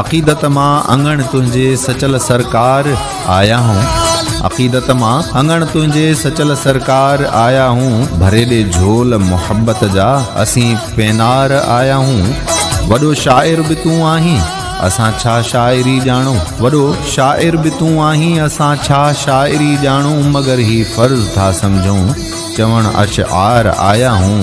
عقيدت مان اڱڻ تنهنجي سچل سرڪار آيا هون عقيدت مان اڱڻ تنهنجي سچل سرڪار آيا هون ڀري ڏي جھول محبت جا اسين پينار آيا هون وڏو شاعر به تون آهين اسان ڇا شاعري ڄاڻو وڏو شاعر به تون آهين اسان ڇا شاعري ڄاڻو مگر هي فرض ٿا سمجھون چوڻ اشعار آيا هون،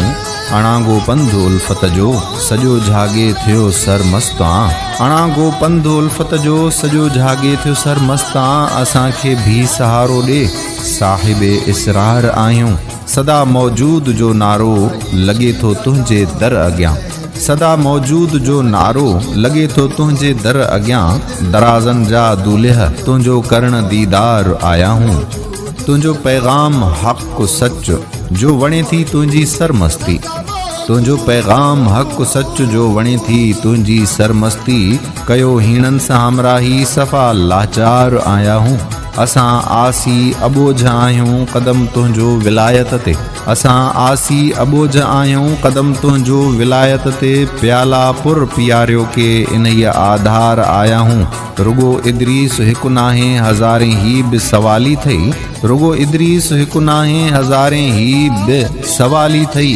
اڻانگو پنڌ الفت جو، سڄو جهاڳي ٿيو سر مست آن. اڻانگو پنڌ الفت جو، سڄو جهاڳي ٿيو سر مست آن. اسان کي ڀي سهارو ڏي، صاحب اسرار آهيون. سدا موجود جو نعرو، لڳي ٿو تنهنجي در اڳيان. سدا موجود جو نعرو، لڳي ٿو تنهنجي در اڳيان. درازن جا دولهه، تنهنجو ڪرڻ ديدار آيا هون. تنهنجو پيغام حق سچ جو وڻي ٿي تنهنجي سرمستي تنهنجو پيغام حق سچ جو وڻي ٿي تنهنجي سرمستي ڪيو هيڻن سان همراهي صفا لاچار آيا هون اسان آسي ابوجھ آهيون قدم تنهنجو ولايت تي اسان آسي ابوجھ آهيون قدم تنهنجو ولايت تي پيالا پر پياريو ڪي انهي آڌار آيا هون رڳو ادريس هڪ ناهي هزارين هي به سوالي ٿئي رڳو ادريس هڪ ناهي هزارين هي به سوالي ٿئي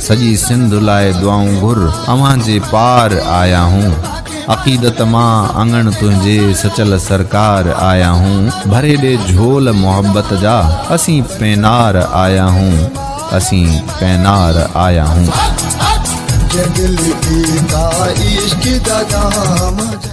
سڄي سنڌ لاء دعائون گهر اوهان جي پار آيا هون عقيدت مان اڱڻ تنهنجي سچل سرڪار آيا هون ڀري ڏي جهول محبت جا اسين پينار آيا هون اسين پينار آيا هون